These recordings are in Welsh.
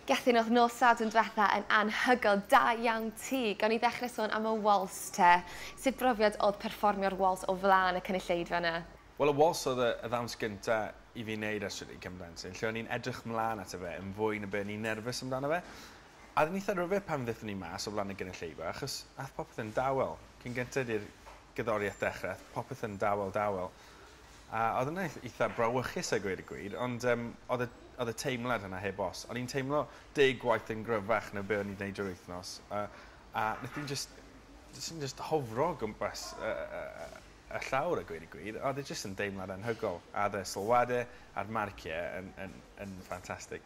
Gethin o'dd nos Sadwrn dwetha yn anhygoel, da iawn ti! Gawn ni ddechre sôn am y wals te? Sut brofiad o'dd perfformio'r wals o flan y cynulleidfa 'na? Wel y wals oedd y ddawns gynta i fi neud ers rili cymd plentyn, lle o'n i'n edrych mlan ato fe yn fwy na be o'n i'n nerfus amdano fe. A oedd e'n eitha rhyfedd pan ddethon ni mas o flan y gynulleidfa achos ath popeth yn dawel. Cyn gynted i'r gerddoriaeth dechre ath popeth yn dawel dawel. A oedd yn eith- eitha brawychus a gweud y gwir, ond yym oedd y oedd y teimlad yna heb os. O'n i'n teimlo deg gwaith yn gryfach na be' o'n i'n neud drwy'r wythnos a a neth hi jyst jyst yn jyst hofro o gwmpas y y y y y llawr a gweud y gwir. Oedd e jyst yn deimlad anhygol a oedd y sylwade a'r marcie yn yn yn ffantastig.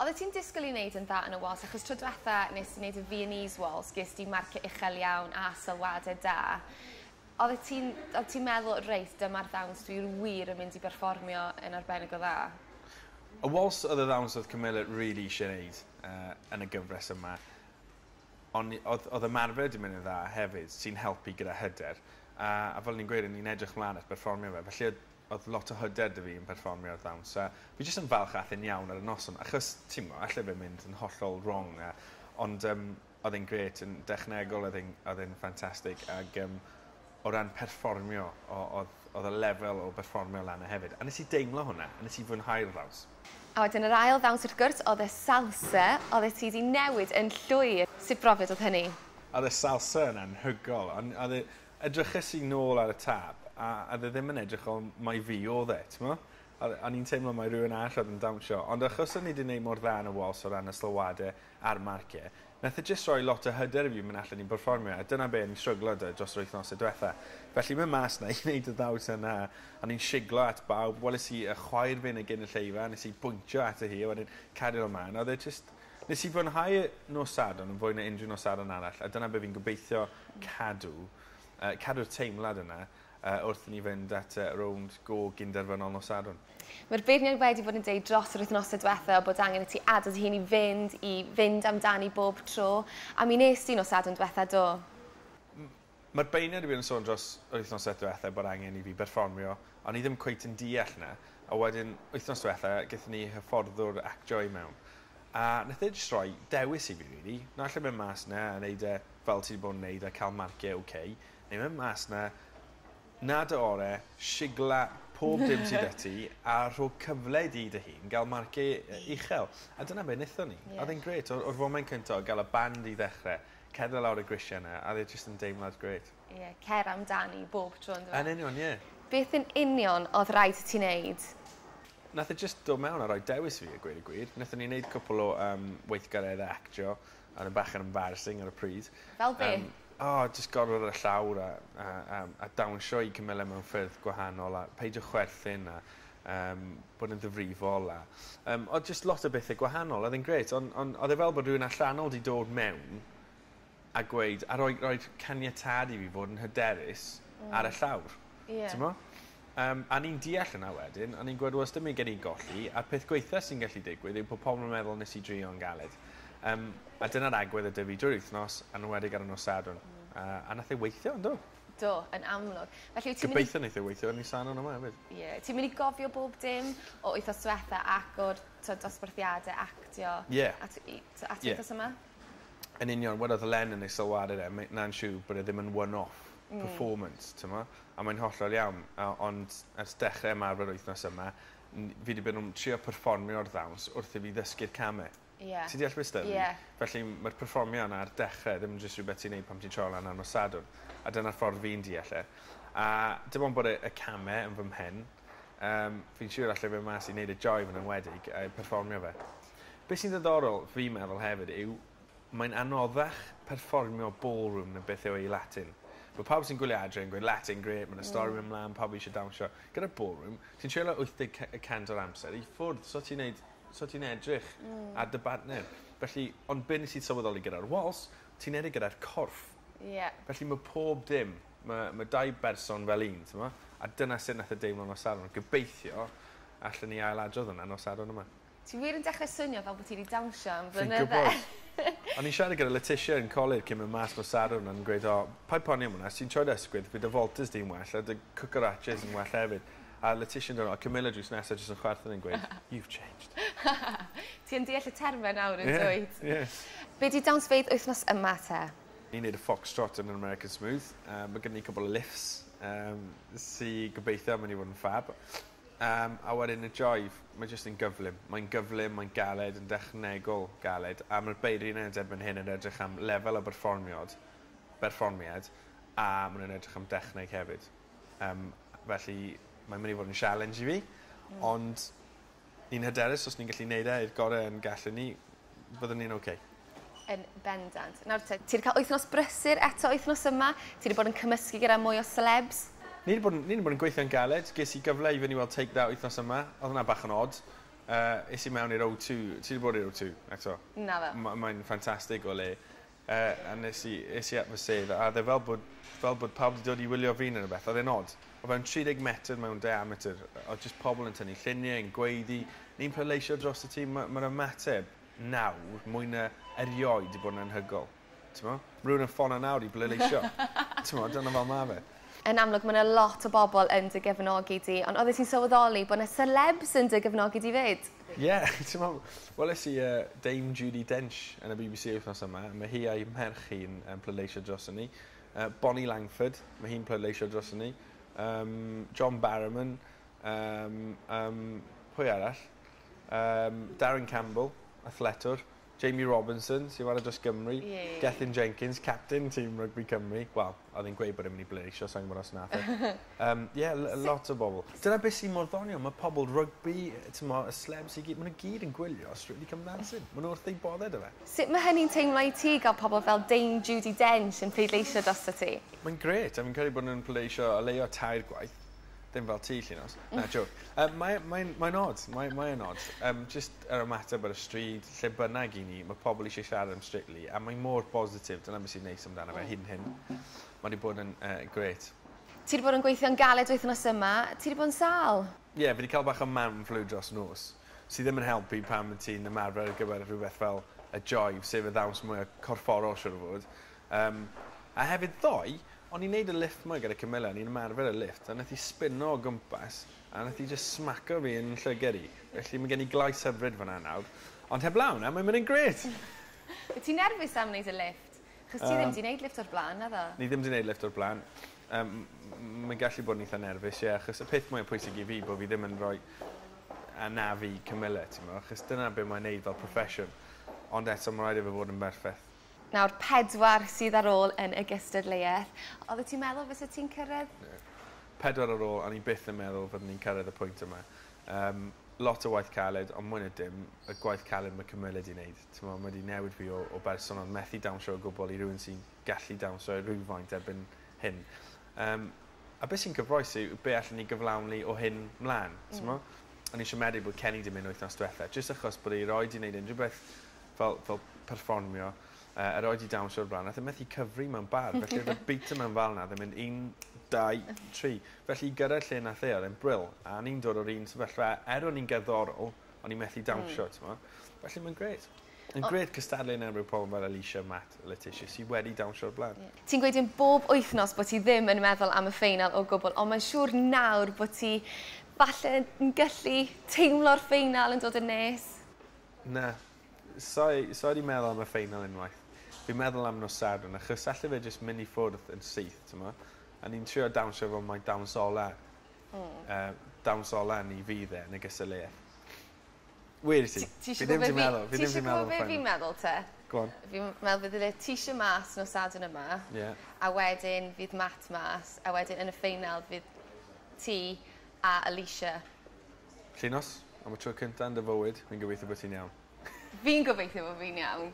Odde ti'n disgwl i neud yn dda yn y Wales achos tro dwetha nes ti neud y Viennese Wales ges di marcie uchel iawn a sylwade da. Odde ti'n odd ti'n meddwl reit dyma'r ddawns dwi wir yn mynd i berfformio yn arbennig o dda? Y Wales odd y ddawns odd Camilla rili isie neud yy yn y gyfres yma. O'n ni odd odd ymarfer 'di mynd yn dda hefyd sy'n helpu gyda hyder a a fel o'n i'n gweud o'n i'n edrych mlan at berfformio fe felly odd Oedd lot o hyder 'da fi yn perfformio ar ddawns a fi jyst yn falch ath e'n iawn ar y noson achos ti'mo' alle fe mynd yn hollol wrong a ond yym odd e'n grêt yn dechnegol odd e'n odd e'n ffantastig ag yym o ran perfformio o- odd odd y lefel o berfformio lan 'na hefyd a nes i deimlo hwnna a nes i fwynhau'r ddawns. A wedyn yr ail ddawns wrth gwrs odd y Salsa oddet ti 'di newid yn llwyr. Sut brofiad odd hynny? Odd y Salsa yn anhygol on' odd e Edryches i nôl ar y tap a oedd e ddim yn edrych fel mai fi oedd e, timod? A o'n i'n teimlo mai rhywun arall oedd yn dawnsio, ond achos o'n i 'di wneud mor dda yn y wals o ran y sylwadau a'r marciau, wnaeth e jyst rhoi lot o hyder i fi mynd allan i berfformio, a dyna be o'n i'n stryglo 'da dros yr wythnosau diwetha'. Felly mynd mas 'na i wneud y ddawns yna, o'n i'n siglo at bawb, weles i y chwaer fyn' ag yn y lleufa, nes i bwyntio ato hi a wedyn cario lan mlan, a oedd e jyst Nes i fwynhau nos Sadwrn yn fwy na unrhyw nos Sadwrn arall a dyna be fi'n gobeithio cadw, yy cadw'r teimlad yna yy wrth i ni fynd at y rownd go gyn-derfynol nos Sadwrn. Mae'r beirniaid wedi bod yn deud dros yr wythnose dwetha bod angen i ti adal dy hun i fynd, i fynd amdani bob tro, a mi wnest ti nos Sadwrn dwetha, do? Mae'r beirniad wir yn sôn dros yr wythnosau diwetha bod angen i fi berfformio o'n i ddim cweit yn deall na a wedyn wythnos diwetha gethon ni hyfforddwr actio i mewn a nath e jyst roi dewis i fi rili na alla mynd mas na a neud e fel ti di bod yn neud a ca'l marcie ok neu mynd mas na na dy ore shigla pob dim sy da ti a rho cyfle i di dy hun ga'l marcie uchel a dyna be nethon ni a o'dd e'n grêt o'r o'r foment cynta o ga'l y band i ddechre Cerdded lawr y grisiau 'na a odd e jyst yn deimlad grêt. Ie cer amdani bob tro on'd yw e? Yn union ie. Beth yn union odd raid i ti neud? Nath e jyst dod mewn a roi dewis i fi a gweud y gwir. Nethon ni neud cwpwl o yym weithgaredde actio a odd e'n bach yn embarrasing ar y pryd. Fel be'? Yym o jyst gorwedd ar y llawr a a a a dawnsio i cymyle mewn ffyrdd gwahanol a peidio chwerthin a um, bod yn ddifrifol a... Um, oedd just lot o bethau gwahanol, oedd e'n gret, ond on, oedd e fel bod rhywun allanol wedi dod mewn a gweud, a roi, roi caniatad i fi fod yn hyderus mm. ar y llawr. Yeah. Ti'n mo? Um, a ni'n deall yna wedyn, a ni'n gwybod, was dim gen i golli, a'r peth gweitha sy'n gallu digwydd yw bod pobl yn meddwl nes i drio yn galed. Um, a dyna'r agwedd y dyfu drwy'r wythnos, a'n wedig ar y nos sadwn. Mm. Uh, a nath ei weithio, ynddo? Do, yn amlwg. Felly wyt ti'n mynd i... Gobeithio neith e weithio yn Nisan on' yma efyd. Ie. Ti'n myn' i gofio bob dim o wythnos dwetha ac o'r t'od dosbarthiade actio... Ie. ...a t- i t- a ti wthnos yma? Yn union wel odd Len yn ei sylwad ar e mae 'na'n siwr bod e ddim yn one off performance t'mo'? A mae'n hollol iawn a ond ers dechre ymarfer wythnos yma n- fi 'di bod yn trio perfformio'r ddawns wrth i fi ddysgu'r came. Ie. Ti deall be' s'da fi? Ie. Felly ma'r perfformio 'na ar dechre ddim yn jyst rhwbeth ti'n neud pan ti'n trial lan ar nos Sadwrn. A dyna'r ffordd fi'n deall e. A dim ond bod y y came yn fy mhen yym fi'n siŵr allai fyn' mas i neud y joio yn enwedig yy perfformio fe. Be' sy'n ddiddorol fi'n meddwl hefyd yw mae'n anoddach perfformio ballroom na beth yw e i Latin. Ma' pawb sy'n gwylio adre yn gweud Latin grêt ma' 'na stori myn' mlan pawb eisiau dawnsio. Gyda ballroom ti'n trial e wyth deg cy- y cant o'r amser i ffwrdd so ti'n neud so ti'n edrych... Hmm. ...ar dy bartner. Felly ond be' nes i sylweddoli gyda'r wals ti'n edrych gyda'r corff. Ie. Felly ma' pob dim ma' ma' dau berson fel un t'mo'? A dyna sut nath e deimlo nos Sadwrn. Gobeithio allen ni ail-adrodd wnna nos Sadwrn yma. Ti wir yn dechre swnio fel bo' ti 'di dawnsio am flynydde. Fi'n gwbod. O'n i'n siarad gyda Letitia yn colur cyn myn' mas nos Sadwrn o'n i'n gweud o paid poeni am wnna os ti'n troi'r ysgwydd bydd dy voltas di'n well a dy cwcaraches yn well hefyd. A Letitia'n dod o cymuned drws nesa jyst yn chwerthin yn gweud you've changed. Ti yn deall y terme nawr yn dwyt? Ie ie. Be di dawnsfeydd wythnos yma te? Ni'n neud y foxtrot yn yr American Smooth yy ma' gynnon ni cwpwl o lifts yym sy gobeithio myn' i fod yn ffab. Yym a wedyn y jive ma' jyst yn gyflym. Mae'n gyflym mae'n galed yn dechnegol galed a ma'r beirniaid erbyn hyn yn edrych am lefel o berfformiod berfformiad a ma' nw'n edrych am dechneg hefyd. Yym. Felly mae'n mynd i fod yn sialens i fi. Ond yn hyderus os ni'n gallu neud e i'r gore' yn gallwn ni fyddwn ni'n ok. Yn bendant. Nawr te, ti 'di ca'l wythnos brysur eto wythnos yma, ti 'di bod yn cymysgu gyda mwy o selebs. Ni 'di bod yn ni 'di bod yn gweithio'n galed. Ges i gyfle i fyn' i weld Take That wythnos yma. Odd wnna bach yn od. Yy es i mewn i'r O2. Ti 'di bod i'r O2 eto? Naddo. Ma' mae'n ffantastig o le. A nes i, es i at fy sedd, a oedd e fel bod, fel bod pawb 'di dod i wylio fi neu rywbeth. Oedd e'n od. O fewn 30 metr mewn diameter, oedd jyst pobl yn tynnu lluniau, yn gweiddi, ni'n pleidleisio drosto ti. Ma', ma'r ymateb nawr, mwy na erioed, 'di bod yn anhygoel. T'mo'? Ma' rywun yn ffono nawr i bleidleisio. T'mo', dyna fel ma' fe. Yn amlwg, ma' 'na lot o bobl yn dy gefnogi di, ond oeddet ti'n sylweddoli bod 'na selebs yn dy gefnogi di 'fyd? Ie t'mo' weles i yy Dame Judi Dench yn y Bee Bee See wythnos yma ma' hi a'i merch hi'n yym pleidleisio droson ni. Yy Bonnie Langford ma' hi'n pleidleisio droson ni. Yym John Barrowman yym yym pwy arall? Yym Darren Campbell, athletwr. Jamie Robinson, sy'n chwarae dros Gymru. Ie. Gethin Jenkins, capten tîm rygbi Cymru. Wel, oedd e'n gweud bod e'n mynd i bleidleisio, sa i'n gwybod os wnaeth e. Yym, ie, l- l- lot o bobl. Dyna beth sy mor ddoniol, mae pobl rygbi, timod, y slebs i gyd, maen nhw gyd yn gwylio Strictly Come Dancing. Maen nhw wrth eu boddau 'da fe. Sut mae hynny'n teimlo i ti gael pobl fel Dame Judi Dench yn pleidleisio drosto ti? Mae'n grêt a fi'n credu bod nhw'n pleidleisio o leia' tair gwaith. Dim fel ti, Llinos. Na, joke. Um, mae, mae, mae'n odd. Mae, mae yn odd. Um, just yr ymateb ar y stryd, lle bynnag i ni, mae pobl eisiau siarad am Strictly, a mae mor bositif, dyna beth sy'n neis amdano fe hyn hyn. Mae wedi bod yn uh, gret. Ti wedi bod yn gweithio'n galed wythnos yma, ti wedi bod yn sal? Ie, yeah, fi wedi cael bach o man flu dros nos, sydd ddim yn helpu pan mae ti'n ymarfer ar gyfer rhywbeth fel y joy, sef y ddawns mwy o corfforol siwr o fod. Yym, a hefyd ddoe, o'n i'n neud y lifft 'ma gyda Camilla, o'n i'n ymarfer y lifft, a nath 'i sbino o gwmpas, a nath 'i jyst smaco fi yn llyged i. Felly ma' gen i glais hyfryd fan 'na nawr. Ond heblaw 'na, mae'n mynd yn grêt! Wyt ti'n nerfus am neud y lifft? Achos ti ddim 'di neud lifft o'r bla'n, naddo? Ni ddim 'di neud lifft o'r bla'n. Yym, m- mae'n gallu bod yn eitha nerfus, ie, achos y peth mwya pwysig i fi bo' fi ddim yn roi anaf i Camilla, t'mo', achos dyna be' mae'n neud fel proffesiwn. Ond eto ma' raid i fe fod yn berffeth. Nawr pedwar sydd ar ôl yn y gystadleuaeth. Oeddet ti'n meddwl fyset ti'n cyrraedd? Pedwar ar ôl, o'n i byth yn meddwl fyddwn ni'n cyrraedd y pwynt yma. Yym, lot o waith caled, ond mwy na dim, y gwaith caled mae cymylyd 'di wneud. Timod, mae 'di newid fi o o berson oedd methu dawnsio o gwbl i rywun sy'n gallu dawnsio rywfaint erbyn hyn. Yym, a beth sy'n cyffrous yw be allen ni gyflawni o hyn 'mlaen, timod? O'n i'n siomedig bod Kenny 'di mynd wythnos diwetha', jyst achos bod e erioed 'di wneud unrhyw beth fel fel perfformio yy yr oed ti dawnsio o'r bla'n nath e methu cyfri mewn bar felly odd y beat yma'n fal 'na odd e'n mynd un dau tri felly i gyrredd lle nath e odd e'n bril a o'n i'n dod o'r un sefyllfa er o'n i'n gerddorol o'n i methu dawnsio hmm. t'mo'? Felly ma'n grêt. Yn grêt cystadlu yn erbyn pobol fel Alisha Matt a Letitia sy wedi dawnsio o'r bla'n. Ie. Ti'n gweud yn bob wythnos bod ti ddim yn meddwl am y ffeinal o gwbl ond mae'n siŵr nawr bod ti falle yn gallu teimlo'r ffeinal yn dod yn nes. Na. Sai, sai 'di meddwl am y ffeinal unwaith. Fi'n meddwl am nos Sadwrn achos alle fe jyst myn' i ffwrdd yn syth t'mo'? A ni'n trio dawnsio efo mai dawns ola. Hmm. Yy dawns ola ni fydd e yn y gystadleuaeth. Weles i. Ti ti isio gwbod be' fi... Fi ddim 'di meddwl fi ddim 'di meddwl am y ffeinal. Ti isio gwbo be' fi'n meddwl 'te? Go on. Fi m- me'wl bydd y Letitia mas nos Sadwrn yma. Ie. A wedyn fydd Matt mas a wedyn yn y ffeinal fydd ti a Alisha. Llinos, am y tro cynta yn dy fywyd, fi'n gobeithio bo' ti'n iawn. Fi'n gobeithio bo' fi'n iawn.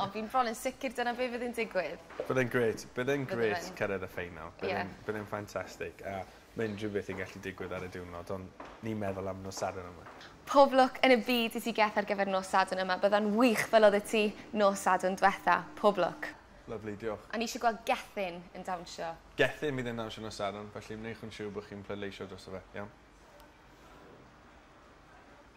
Ond fi'n bron yn sicir dyna be' fydd yn digwydd. Bydd e'n grêt bydd e'n grêt... Bydde fe'n. ...cyrredd y ffeinal. Ie. Bydd e'n bydd e'n ffantastig a ma' unrhyw beth yn gallu digwydd ar y diwrnod on' ni'n meddwl am nos Sadwrn yma. Pob lwc yn y byd i ti Geth ar gyfer nos Sadwrn yma bydda'n wych fel oddet ti nos Sadwrn dwetha. Pob lwc. Lyfli, diolch. O'n i isie gweld Gethin yn dawnsio. Gethin bydd e'n dawnsio nos Sadwrn, felly wnewch yn siwr bod chi'n pleidleisio drosto fe, iawn?